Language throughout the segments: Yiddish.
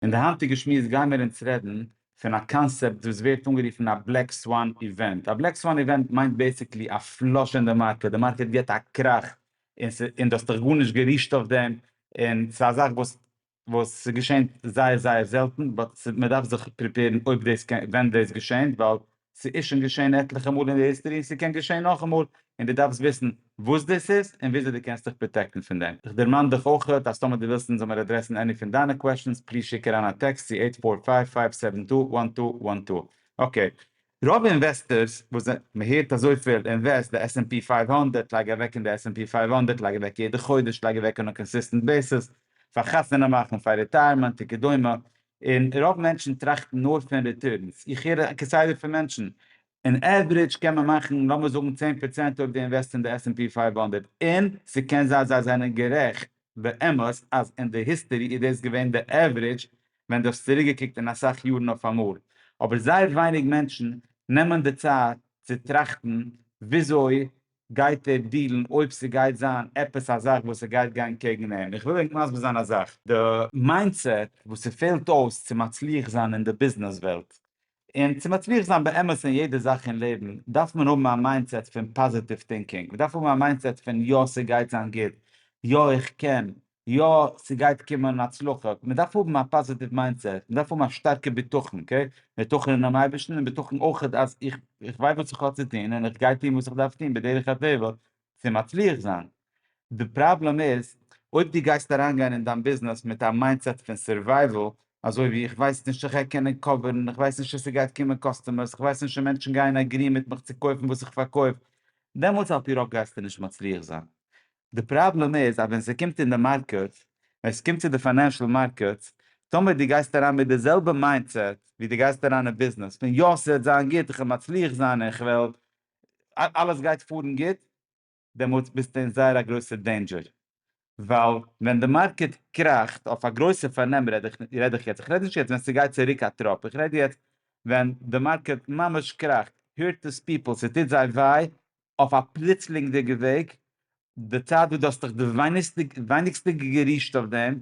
אין די היינטיגע שמועס גייען מיר אונז רעדן פון א קאנסעפט וואס ווערט אנגערופן א בלעק סוואן איווענט. א בלעק סוואן איווענט מיינט בעיסיקלי א פלאש אין די מארקעט, די מארקעט גיבט א קראך און ס'איז און דו האסט דיך גארנישט גערישט אויף דעם, און ס'איז א זאך וואס וואס ס'געשענט זייער זייער זעלטן באט מען דארף זיך פריפעירן אויב דאס קען ווען דאס געשענט ווייל ס'איז שוין געשען עטליכע מאל אין די היסטערי און ס'קען געשען נאכאמאל, און דו דארפסט וויסן וואס דאס איז און וויאזוי דו קענסט דיך פראטעקטן פון דעם. איך דערמאן דיך אויכעט אז טאמער דו ווילסט אונז זאמער אדרעסן עני פון דיינע קוועשאנס, פליז שיק אריין א טעקסט צו עיט פאר פייוו פייוו סעווען טו וואן טו וואן טו. אקעי. רוב אינוועסטערס וואס זענ. מ'הערט אזויפיל, אינוועסט די עס ענד פי פייוו הונדערט, לייג אוועק אין די עס ענד פי פייוו הונדערט, לייג אוועק יעדע חודש, לייג אוועק אן א קאנסיסטענט בעיסעס, פאר חתונה מאכן, פאר רעטייערמענט, וכדומה, און רוב מענטשן טראכטן נאר פון ריטורנס, איך הער כסדר פון מענטשן, אין עוורידזש קען מען מאכן לאמיר זאגן צען פראצענט אויב דו אינוועסט אין די עס ענד פי פֿינף הונדערט, און ס'קען זיין זיי זענען גערעכט באמת אז אין די היסטערי איז דאס געווען די עוורידזש ווען דו האסט צוריקגעקוקט אין אסאך יארן אויפאמאל, אבער זייער ווייניג מענטשן נעמען די צייט צו טראכטן וויאזוי גייט ער דילן אויב ס'גייט זיין עפעס א זאך וואס ס'גייט גיין קעגן אים? איך וויל ענק מסביר זיין א זאך, די מיינדסעט וואס ס'פעלט אויס צו מצליח זיין אין די ביזנעס וועלט, און צו מצליח זיין באמת אין יעדע זאך אין לעבן, דארף מען האבן א מיינדסעט פון פאזיטיוו טינקינג, מ'דארף האבן א מיינדסעט פון יא ס'גייט זיין גוט, יא איך קען, יא ס'גייט קומען הצלחה, מ'דארף האבן א פאזיטיוו מיינדסעט, מ'דארף האבן א שטארקע בטחון, אקעי, בטחון אינעם אייבערשטן און בטחון אויך אז איך איך ווייס וואס איך האב צו טון און איך גיי טון וואס איך דארף טון בדרך הטבע צו מצליח זיין, די פראבלעם איז אויב דו גייסט אריינגיין אין דיין ביזנעס מיט א מיינדסעט פון סערווייוועל, אזוי ווי איך ווייס נישט איך גיי קענען קאווערן, איך ווייס נישט צו ס'גייט קומען קאסטומערס, איך ווייס נישט צו מענטשן גייען עגריען מיט מיך צו קויפן וואס איך פארקויף, דעמאלטס על פי רוב גייסטו נישט מצליח זיין, די פראבלעם איז אז ווען ס'קומט אין די מארקעט, ווען ס'קומט צו די פיינענשעל מארקעטס, טאמער דו גייסט אריין מיט די זעלבע מיינדסעט ווי דו גייסט אריין אין ביזנעס, פון יא ס'וועט זיין גוט, איך וועל מצליח זיין און איך וועל, אלעס גייט פארן גוט, דעמאלטס ביסטו אין זייער א גרויסע דעינדזשער, ווייל ווען די מארקעט קראכט, אויף א גרויסע פארנעם רעד איך רעד איך יעצט, איך רעד נישט יעצט ווען ס'גייט צוריק א טראפ, איך רעד יעצט ווען די מארקעט ממש קראכט, הירט דיס פיפל, ס'טוט זיי וויי, אויף א פלוצלינגדיגע וועג, די צייט וואס דו האסט דיך די ווייניגסטע גערישט אויף דעם,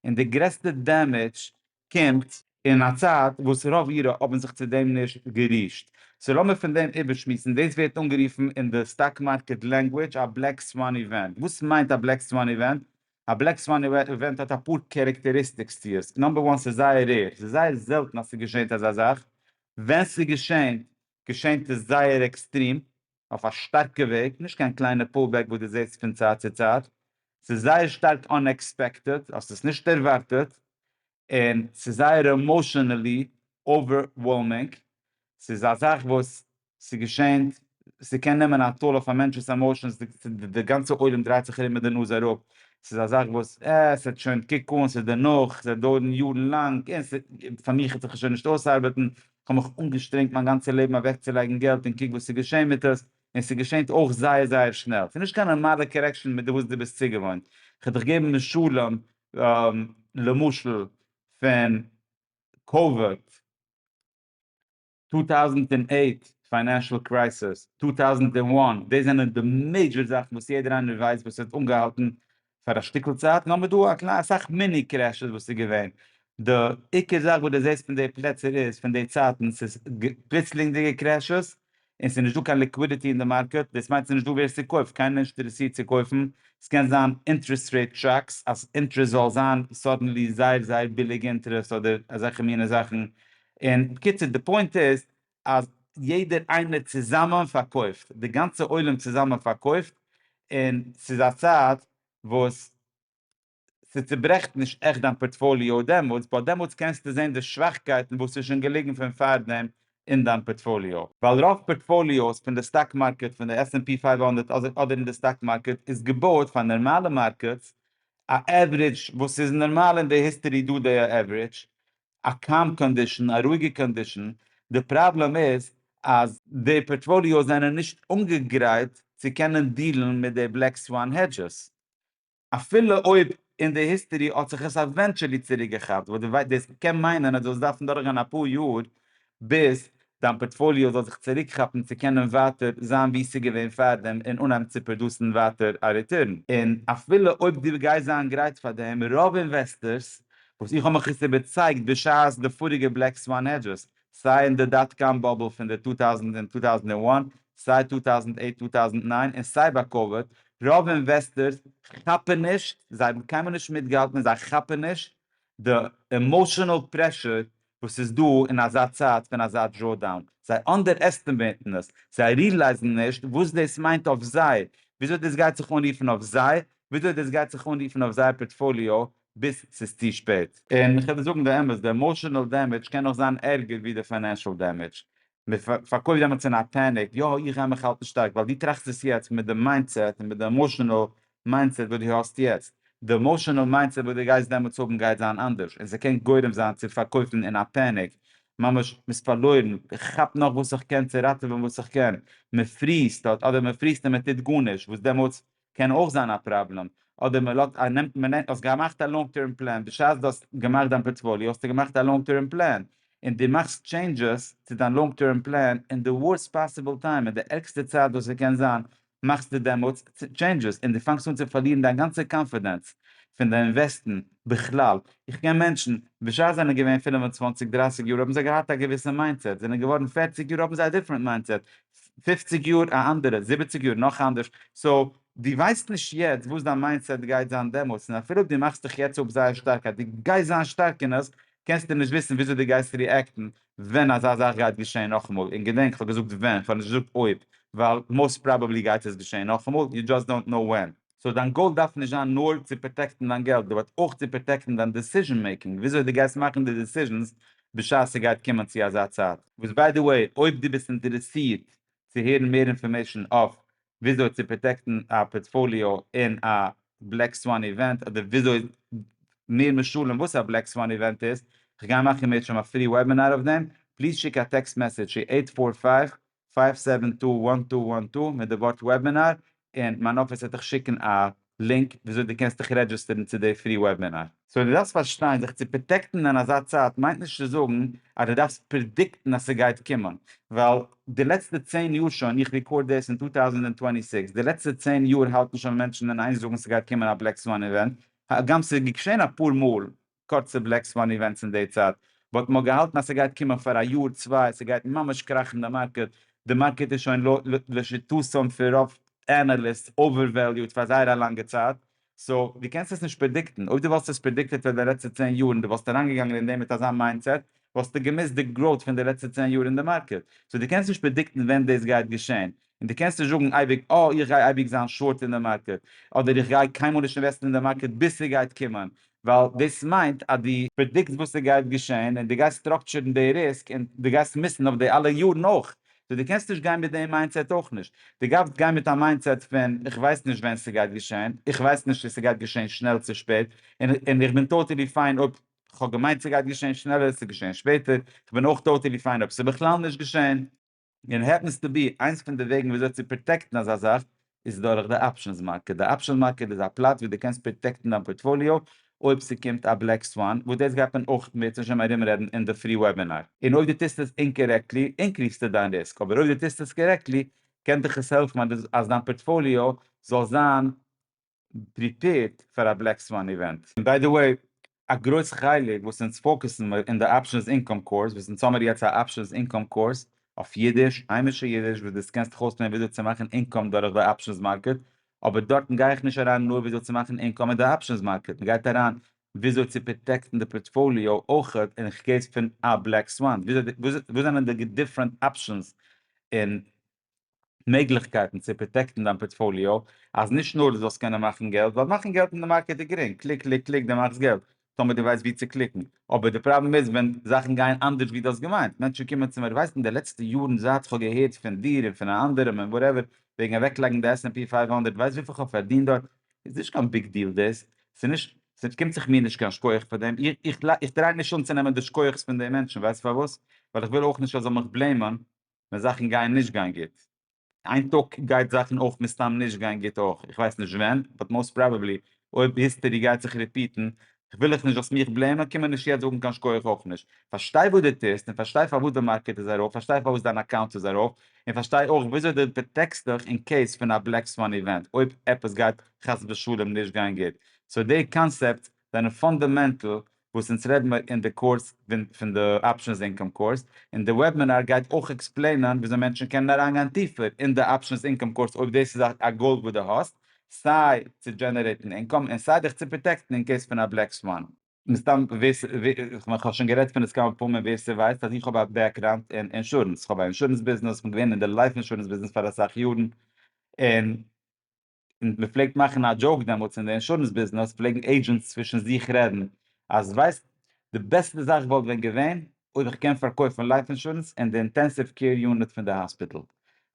און די גרעסטע דעמעדזש קומט אין א צייט וואס רוב אירע האבן זיך צו דעם נישט גערישט, סאו לאמיר פון דעם איבערשמועסן, דאס ווערט אנגערופן אין די סטאק מארקעט לענגווידזש א בלעק סוואן איווענט, וואס מיינט א בלעק סוואן איווענט? א בלעק סוואן איווענט האט אפאר קערעקטעריסטיקס צו עס, נאמבער וואן ס'איז זייער רעיר, ס'איז זייער זעלטן אז ס'געשענט אזא זאך, ווען ס'געשענט געשענט איז זייער עקסטרים, אויף א שטארקע וועג, נישט קיין קליינע פול בעק וואס דו זעסט פון צייט צו צייט, ס'איז זייער שטארק אנעקספעקטעד, האסט עס נישט ערווארטעט, און ס'איז זייער עמאשענעלי אווערוועלמינג, ס'איז א זאך וואס ס'געשענט, ס'קען נעמען א טאל אויף א מענטש'ס עמאשענס, די גאנצע עולם דרייט זיך ארום מיט די נאז אראפ, ס'איז א זאך וואס אה, ס'וועט שוין, קוק אן, ס'איז דערנאך, ס'וועט דויערן יארן לאנג, און ס'איז, פאר מיך וועט זיך עס שוין נישט אויסארבעטן, כ'האב מיך אנגעשטרענגט מיין גאנצע לעבן אוועקצולייגן געלט און קוק וואס ס'איז געשען מיט עס, און ס'געשענט אויך זייער זייער שנעל. ס'איז נישט קיין נארמאלע קארעקשאן מיט די וואס דו ביסט צוגעוואוינט. כ'וועל דיך געבן משלים, למשל פון קאוויד, טו טאוזענט און אייט פיינענשעל קרייסיס, טו טאוזענט און וואן, דאס זענען די מעידזשער זאכן וואס יעדער איינער ווייסט וואס האט אנגעהאלטן פאר א שטיקל צייט, נאר מען דא א קליין אסאך מיני קרעשעס וואס איז געווען, די עיקר זאך וואס די זעסט פון די פלעצער איז פון די צייטן ס'איז פלוצלינגדיגע קרעשעס, און ס'איז נישט דא קיין ליקווידיטי אין די מארקעט, דאס מיינט ס'איז נישט דא ווער ס'קויפט, קיינער איז נישט אינטערעסירט צו קויפן, ס'קען זיין אינטערעסט רעיט שאקס, אז אינטערעסט זאל זיין סאדענלי זייער זייער ביליג אינטערעסט אדער אזעלכע מיני זאכן, און בקיצור די פוינט איז אז יעדער איינער צוזאמען פארקויפט, די גאנצע עולם צוזאמען פארקויפט, און ס'איז א צייט וואס ס'צוברעכט נישט עכט דיין פארטפאליאו דעמאלטס, ווייל דעמאלטס קענסטו זען די שוואכקייטן וואס איז שוין געליגן פון פארדעם אין דיין פארטפאליאו. ווייל רוב פארטפאליאוס פון די סטאק מארקעט, פון די עס ענד פי פֿינף הונדערט אדער אדער אין די סטאק מארקעט, איז געבויעט פאר נארמאלע מארקעטס, א עוורידזש וואס איז נארמאל אין די היסטערי דא די עוורידזש, א קאם קאנדישן, א רואיגע קאנדישן, די פראבלעם איז אז די פארטפאליאס זענען נישט אנגעגרייט צו קענען דיעלן מיט די בלעק סוואן העדזשעס, אפילו אויב אין די היסטערי האט זיך עס עווענטשעלי צוריקגעכאפט, וואס דאס קען מיינען אז דו וועסט דארפן דורכגיין אפאר יאר ביז דיין פארטפאליאו זאל זיך צוריק כאפן צו קענען ווייטער זיין ווי ס'איז געווען פארדעם און אנהייבן צו פראדוסן ווייטער א ריטורן. און אפילו אויב דו גייסט זיין גרייט פאר דעם, רוב אינוועסטערס, וואס איך האב מיך עס איבערצייגט בשעת די פאריגע בלעק סוואן העדזשעס, סיי אין די דאט קאם באבל פון די טו טאוזענד און טו טאוזענד און וואן, סיי טו טאוזענד אייט טו טאוזענד ניין און סיי ביי קאוויד, רוב אינוועסטערס כאפן נישט, זיי האבן קיינמאל נישט מיטגעהאלטן און זיי כאפן נישט די עמאשענעל פרעשור וואס איז דא אין אזא צייט פון אזא דראודאון, זיי אנדערעסטימעיטן עס, זיי ריעלייזן נישט וואס דאס מיינט אויף זיי, וויאזוי דאס גייט זיך אנרופן אויף זיי, וויאזוי דאס גייט זיך אנרופן אויף זייער פארטפאליאו ביז ס'איז צו שפעט. און כ'וועל דיר זאגן די אמת, די עמאושענעל דעמעדזש קען נאך זיין ערגער ווי די פיינענשעל דעמעדזש, מען פארקויפט דעמאלטס אין א פעניק, יא איך גיי מיך האלטן שטארק, ווייל דו טראכסט עס יעצט מיט די מיינדסעט און מיט די עמאשענעל מיינדסעט וואס דו האסט יעצט, די עמאשענעל מיינדסעט וואס דו גייסט דעמאלטס האבן גייט זיין אנדערש, און ס'קען גורם זיין צו פארקויפן אין א פעניק, ממש מ'איז פארלוירן, איך כאפ נאך וואס איך קען צו ראטעווען וואס איך קען, מ'פריזט אט אדער מ'פריזט און מ'טוט גארנישט, וואס דעמאלטס קען אויך זיין א פראבלעם, אדער מען לאזט א נעמט מען נעמט האסט געמאכט א לאנג טערם פלען בשעת דו האסט געמאכט דיין פארטפאליע האסטו געמאכט א לאנג טערם פלען און דו מאכסט טשעינדזשעס צו דיין לאנג טערם פלען אין די ווארסט פאסיבל טיים אין די ערגסטע צייט וואס עס קען זיין מאכסטו דעמאלטס טשעינדזשעס און דו פאנגסט אן צו פארלירן דיין גאנצע קאנפידענץ פון די אינוועסטן בכלל איך קען מענטשן בשעת זיי זענען געווען פינף און צוואנציג דרייסיג יאר האבן זיי געהאט א געוויסע מיינדסעט זענען געווארן פערציג יאר האבן זיי א דיפרענט מיינדסעט פופציג יאר א אנדערע, זיבעציג יאר נאך אנדערש, סאו דו ווייסט נישט יעצט וואס דיין מיינדסעט גייט זיין דעמאלטס, און אפילו אויב דו מאכסט דיך יעצט אפ זייער שטארק אז דו גייסט זיין שטארק אין עס, קענסטו נישט וויסן וויאזוי דו גייסט ריעקטן ווען אזא זאך גייט געשעהן נאכאמאל, און געדענק כ'האב געזאגט ווען, כ'האב נישט געזאגט אויב, ווייל מאוסט פראבעבלי גייט עס געשעהן נאכאמאל, יו דזשאסט דאונט קנאו ווען. סאו דיין גאול דארף נישט זיין נאר צו פראטעקטן דיין געלט, די וועט אויך צו פראטעקטן דיין דיסיזשען מעיקינג, וויאזוי די גייסט מאכן די דיסיזשענס בשעת ס'גייט קומען צו אזא צייט. וואס ביי די וועי, אויב דו ביסט אינטערעסירט צו הערן מער אינפארמעישן אויף וויאזוי צו פראטעקטן א פארטפאליאו אין א בלעק סוואן איווענט, אדער וויאזוי מער משלים וואס א בלעק סוואן איווענט איז, כ'גיי מאכן מערצ'עם א פרי וועבינאר אויף דעם, פליז שיק א טעקסט מעסעדזש צו אייט פאר פייוו פייוו סעווען טו וואן טו וואן טו מיט די ווארט וועבינאר און מיין אפיס וועט דיך שיקן א לינק וויאזוי די קענסט דיך רעדזשיסטערן צו די פרי וועבינאר. סאו די דארפסט פארשטיין זיך צו פראטעקטן אין אזא צייט מיינט נישט צו זאגן אז די דארפסט פרעדיקטן אז סגייט קומען ווייל די לעצטע צען יאר שוין איך ריקארד דעס אין טו טאוזענט און טווענטי סיקס די לעצטע צען יאר האלטן שוין מענטשן אין איין זאגן סגייט קומען א בלעק סוואן איווענט הגם סגעשען אפאר מאל קורצע בלעק סוואן איווענטס אין די צייט, וואלט מען געהאלטן אז ס'גייט קומען פאר א יאר צוויי, ס'גייט ממש קראכן די מארקעט, די מארקעט איז שוין לשיטתם פון רוב אנעליסטס אווערוועליוד פאר זייער א לאנגע צייט, סאו דו קענסט עס נישט פרעדיקטן, אויב דו וואלסט עס פרעדיקטעט פאר די לעצטע צען יאר און דו וואלסט אריינגעגאנגען אין דעם מיט אזא מיינדסעט וואלסטו געמיסט די גראוט פון די לעצטע צען יאר אין די מארקעט, סאו דו קענסט נישט פרעדיקטן ווען דאס גייט געשען, און דו קענסט נישט זאגן אייביג אה איך גיי אייביג זיין שארט אין די מארקעט, אדער איך גיי קיינמאל נישט אינוועסטן אין די מארקעט ביז ס'גייט קומען, ווייל דאס מיינט אז דו פרעדיקטס וואס ס'גייט געשען און דו גייסט סטראקטשערן די ריסק און דו גייסט מיסן אויף די אלע יארן אויך, סאו דו קענסט נישט גיין מיט די מיינדסעט אויך נישט, דו גארפסט גיין מיט א מיינדסעט פון איך ווייס נישט ווען ס'גייט געשען, איך ווייס נישט צו ס'גייט געשען שנעל צו שפעט, און איך בין טאטעלי פיין אויב כ'האב געמיינט ס'גייט געשען שנעלער ס'איז געשען שפעטער, כ'בין אויך טאטעלי פיין אויב ס'איז בכלל נישט געשען. און העפענס טו בי, איינס פון די וועגן וויאזוי צו פראטעקטן אזא זאך איז דורך די אפשענס מארקעט. די אפשענס מארקעט איז א פלאץ וואו דו קענסט פראטעקטן דיין פארטפאליאו אויב ס'קומט א בלעק סוואן, וואס דאס גייט מען אויך מער צומשל ארומרעדן אין די פרי וועבינאר. און אויב דו טוסט עס אינקארעקטלי, אינקריעסטו דיין ריסק, אבער אויב דו טוסט עס קארעקטלי, קען דיך עס העלפן אז דיין פארטפאליאו זאל זיין פריפעירד פאר א בלעק סוואן איווענט. און ביי די וועי, א גרויס חלק וואס אונז פאוקעסן מיר אין די אפשענס אינקאם קורס, וואס אונז האמיר יעצט א אפשענס אינקאם קורס אויף אידיש, היימישע אידיש, וואס דאס קענסט דיך אויסלערנען וויאזוי צו מאכן אינקאם דורך די אפשענס מארקעט, אבער דארטן גיי איך נישט אריין נאר וויאזוי צו מאכן אינקאם אין די אפשענס מארקעט, מען גייט אריין וויאזוי צו פראטעקטן די פארטפאליאו אויך אין קעיס פון א בלעק סוואן, וואס זענען די דיפרענט אפשענס אין מעגליכקייטן צו פראטעקטן דיין פארטפאליאו אז נישט נאר דו זאלסט קענען מאכן געלט, ווייל מאכן געלט אין די מארקעט איז גרינג, קליק קליק קליק דו מאכסט געלט, טאמער דו ווייסט ווי צו קליקן, אבער די פראבלעם איז ווען זאכן גייען אנדערש ווי דו האסט געמיינט, מענטשן קומען צו מיר, ווייסט אין די לעצטע יארן זייט כ'האב געהערט פון דיר און פון א אנדערעם און וואטעווער וועגן אוועקלייגן די עס ענד פי פייוו הונדערט, ווייסט וויפיל כ'האב פארדינט דארט? איז נישט קיין ביג דיעל דאס, ס'איז נישט, ס'קומט זיך מיר נישט קיין שקויעך פאר דעם, איך טריי נישט אנצונעמען די שקויעכ'ס פון די מענטשן, ווייסט פארוואס? ווייל איך וויל אויך נישט ער זאל מיך בלעימען, ווען זאכן גייען נישט גיין גוט. איין טאג גייט זאכן אויך מסתם נישט גיין גוט אויך, איך ווייס נישט ווען, באט מאוסט פראבעבלי אויב היסטערי גייט זיך ריפיטן, כ'וויל איך נישט זאלסט מיך בלעימען, קום מיר נישט יעצט זאגן קיין שקויעך אויך נישט, פארשטיי וואס דו טוסט, און פארשטיי פארוואס די מארקעט איז ארויף, פארשטיי פארוואס דיין אקאונט איז ארויף, און פארשטיי אויך וויאזוי דו פראטעקסט דיך אין קעיס פון א בלעק סוואן איווענט אויב עפעס גייט חס ושלום נישט גיין גוט, סאו די קאנסעפט זענען פאנדאמענטל וואס אונז רעדן מיר אין די קורס פון די אפשענס אינקאם קורס, און די וועבינאר גייט אויך עקספלעינען וויאזוי מענטשן קענען אריינגיין טיפער אין די אפשענס אינקאם קורס אויב דאס איז א גאול וואס דו האסט, סיי צו דזשענערעיטן אינקאם און סיי דיך צו פראטעקטן אין קעיס פון א בלעק סוואן. מסתם ווער ס ווער כ'האב שוין גערעדט פון עס כמה פעמים ווער ס'ווייסט אז איך האב א בעקראונד אין אינשורענס, כ'האב א אינשורענס ביזנעס, כ'בין געווען אין די לייף אינשורענס ביזנעס פאר אסאך יארן, און. און מען פלעגט מאכן א דזשאוק דעמאלטס אין די אינשורענס ביזנעס פלעגן עידזשענטס צווישן זיך רעדן אז ווייסט די בעסטע זאך וואלט ווען געווען אויב איך קען פארקויפן לייף אינשורענס אין די אינטענסיוו קעיר יוניט פון די האספיטאל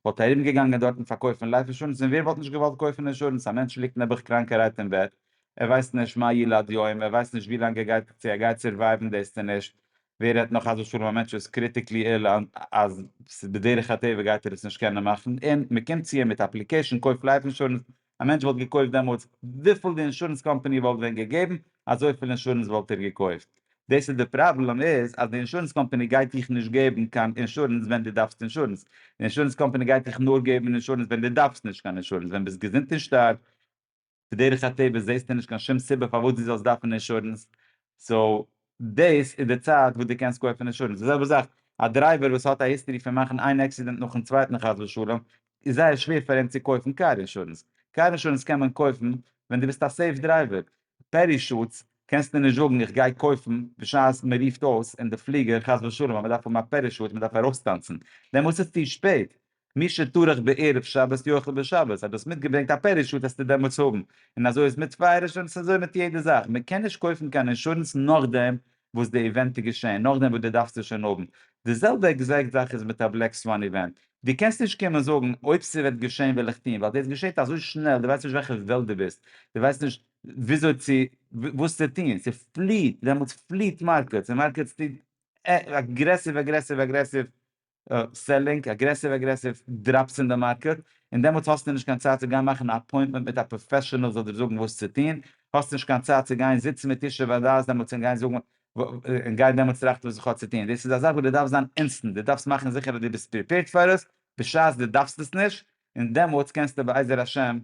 וואלט ארום געגאנגען דארטן פארקויפן לייף אינשורענס און ווער וואלט נישט געוואלט קויפן אינשורענס א מענטש ליגט נעבעך קראנקערהייט אין בעט ער ווייסט נישט מה ילד יום ער ווייסט נישט ווי לאנג ער גייט צו ער גייט סורווייוון דאס צו נישט ווער רעדט נאך אז אפילו א מענטש איז קריטיקלי איל אז בדרך הטבע גייט ער עס נישט קענען מאכן און מען קומט צו אים מיט אפליקעישן קויף לייף אינשורענס, א מענטש וואלט געקויפט דעמאלטס וויפיל די אינשורענס קאמפעני וואלט ווען געגעבן אזויפיל אינשורענס וואלט ער געקויפט, דאס איז די פראבלעם איז אז די אינשורענס קאמפעני גייט דיך נישט געבן קיין אינשורענס ווען די דארפסט אינשורענס, די אינשורענס קאמפעני גייט דיך נאר געבן אינשורענס ווען די דארפסט נישט קיין אינשורענס, ווען ביסט געזונט און שטארק. בדרך הטבע זעסטו נישט קיין שום סיבה פארוואס דו זאלסט דארפן אינשורענס, סאו דאס איז די צייט וואס דו קענסט קויפן אינשורענס, די זעלבע זאך א דרייווער וואס האט א היסטערי פון מאכן איין עקסידענט נאכן צווייטן חס ושלום, איז זייער שווער פאר אים צו קויפן קאר אינשורענס, קאר אינשורענס קען מען קויפן ווען דו ביסט א סעיף דרייווער, פערישוטס קענסטו נישט זאגן איך גיי קויפן בשעת מען רופט אויס אין די פליגער חס ושלום אז מען דארף האבן א פערישוט מען דארף ארויסטאנצן, דעמאלטס איז צו שפעט, מי שטרח בערב שבת יאכל בשבת, אז דו האסט מיטגעברענגט א פערישוט העסטו דעמאלטס האבן, און אזוי איז מיט פייער אינשורענס און אזוי מיט יעדע זאך, מען קען נישט קויפן קיין אינשורענס נאכדעם וואס די איווענט איז געשען, נאכדעם וואס דו דארפסט עס שוין האבן, די זעלבע עקזעקט זאך איז מיט א בלעק סוואן איווענט, דו קענסט נישט קומען זאגן אויב ס'וועט געשען וועל איך טון, ווייל דאס געשעט אזוי שנעל, דו ווייסט נישט וועלכע וועלט דו ביסט, דו ווייסט נישט וויאזוי צו וואס צו טון, ס'פליעט, דעמאלטס פליעט מארקעטס, און מארקעטס טוט אגרעסיוו אגרעסיוו אגרעסיוו סעלינג, אגרעסיוו אגרעסיוו דראפס אין די מארקעט, און דעמאלטס האסטו נישט קיין צייט צו גיין מאכן א אפוינטמענט מיט א פראפעשענעל זאל דיר זאגן וואס צו טון, האסט נישט קיין צייט צו גיין זיצן מיט איש שבדעת דעמאלטס און גיין זאגן און גיין דעמאלטס טראכטן וואס איך האב צו טון, דאס איז א זאך וואס דו דארפסט זיין אינסטענט, דו דארפסט מאכן זיכער אז דו ביסט פריפעירד פאר עס בשעת דו דארפסט עס נישט, און דעמאלטס קענסטו בעזר השם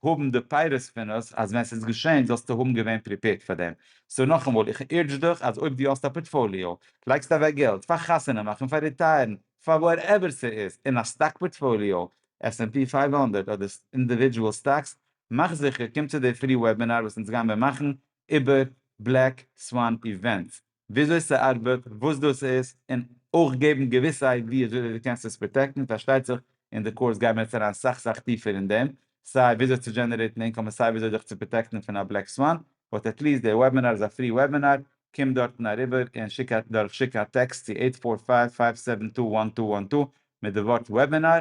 האבן די פייער ספינערס אז ווען ס'איז געשען זאלסטו האבן געווען פריפעירד פאר דעם, סאו נאכאמאל איך אורדזש דיך אז אויב דו האסט א פארטפאליאו, לייגסט אוועק געלט פאר חתונה מאכן, פאר ריטייערן, פאר וואטעווער ס'איז, אין א סטאק פארטפאליאו, עס ענד פי פֿינף הונדערט אדער אינדיווידזשועל סטאקס, מאך זיכער קום צו די פרי וועבינאר וואס אונז גיימער מאכן איבער בלעק סוואן איווענטס, וויאזוי ס'ארבעט, וואס דאס איז, און אויך געבן געוויסע איידיעס וויאזוי דו קענסט עס פראטעקטן, פארשטייט זיך אין די קורס גייען מיר יעצט אריין סאך סאך טיפער אין דעם, סיי וויאזוי צו דזשענערעיטן אינקאם און סיי וויאזוי זיך צו פראטעקטן פון א בלעק סוואן, באט עט ליעסט די וועבינאר איז א פרי וועבינאר, קום דארטן אריבער און שיק א דורך שיק א טעקסט צו עיט פאר פייוו פייוו סעווען טו וואן טו וואן טו מיט די ווארט וועבינאר